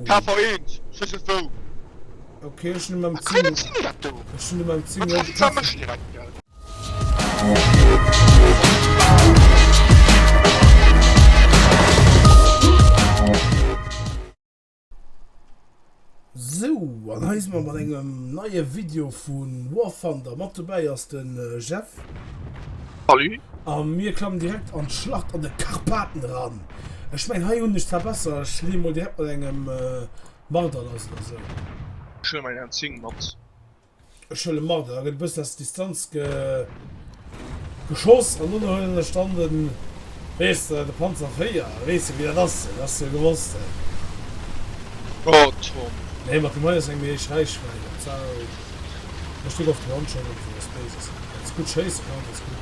KV eent, ech wees net wou. Ok ech hun mam Zing, ech hun mam Zing elo gepackt. Sou an hei si mer mat engem neie Video vu War Thunder, mat dobäi ass de Jeff. Salut. A mir klammen direkt an d'Schlacht an de Karpaten eran. Ech mengen hei hun ech zwar besser, ech leen mol direkt mat engem Marder lass oder sou. Ech huelen meng Hand 10 mat. Ech huelen Marder, da gett e bëssen aus der Distanz geschoss an dono huelen ech dann den, weess de, de Panzer 4, weess de wéi dat ass, dat has de jo gewosst he. Oh Tom. Nee mat dem hei ass eng méi héich Reichweite, dat war, ech dréck of den Handschalter fir eppes Béises, wann s gudd schéissen kanns ass gudd.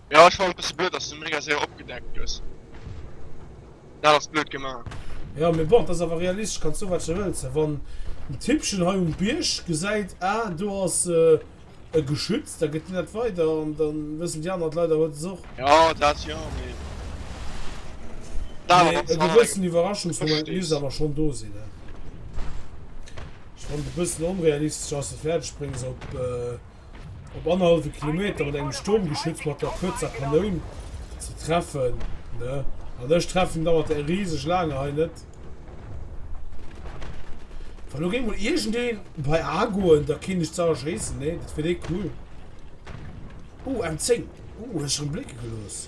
Jo ech fann et besse blöd dass du mega séier opgedeckt gëss. Dat ass blöd gemaach. Jo mee bon, et ass awer realistesch, kanns soen wat de wëlls, mä wann den Tippchen hei um Bierg gesäit ah do ass e geschützt, da gëtt deen dat weider an da wëssen déi aner leider huet es och. Jo dat jo mee dat ass awer eng Ech verstees. Wann et e bëssen onrealistesch ass, fäerdeg bréngs op. Op annerhallwe Kilometer mat engem Sturmgeschütz mat der kuerzer Kanoun ze treffen, ne? An ech treffen dauert däi riseg laange hei net. Wa lo géing mol iergendee bei A goen, da kéint ech ze erschéissen, nee? Dat wier dee cool. Uh, M10. Uh, huet ech erëm blécke gelooss.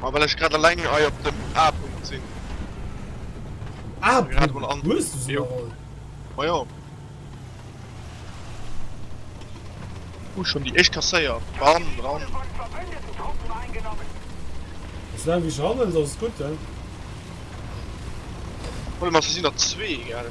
Ma well ech grad alleng hei op dem A-Punkt sinn. A-Punkt? Wou hues du se iwwerholl? Ma jo. Hu schonn déi éischt kasséiert. Bam, dran. Soulaang wéi ech erakommen sinn, ass et gutt. Warte mol, se sinn der zwee, gell?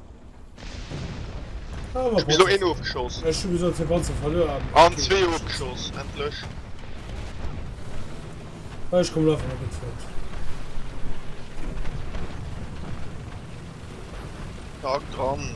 Ech bis elo een ofgeschoss an zwee ofgeschoss, endlech. Ech kommen einfach net flott. Haak dran.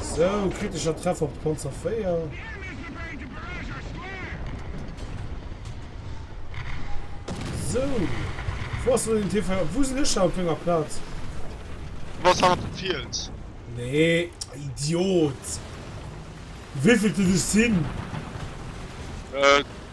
So, kritischer Treffer op Panzer 4. So. Wo hast du den TV? Wo sind ich auf meiner Platz? Was hat den Fields? Nee, Idiot. Wie viel du das sind? Äh.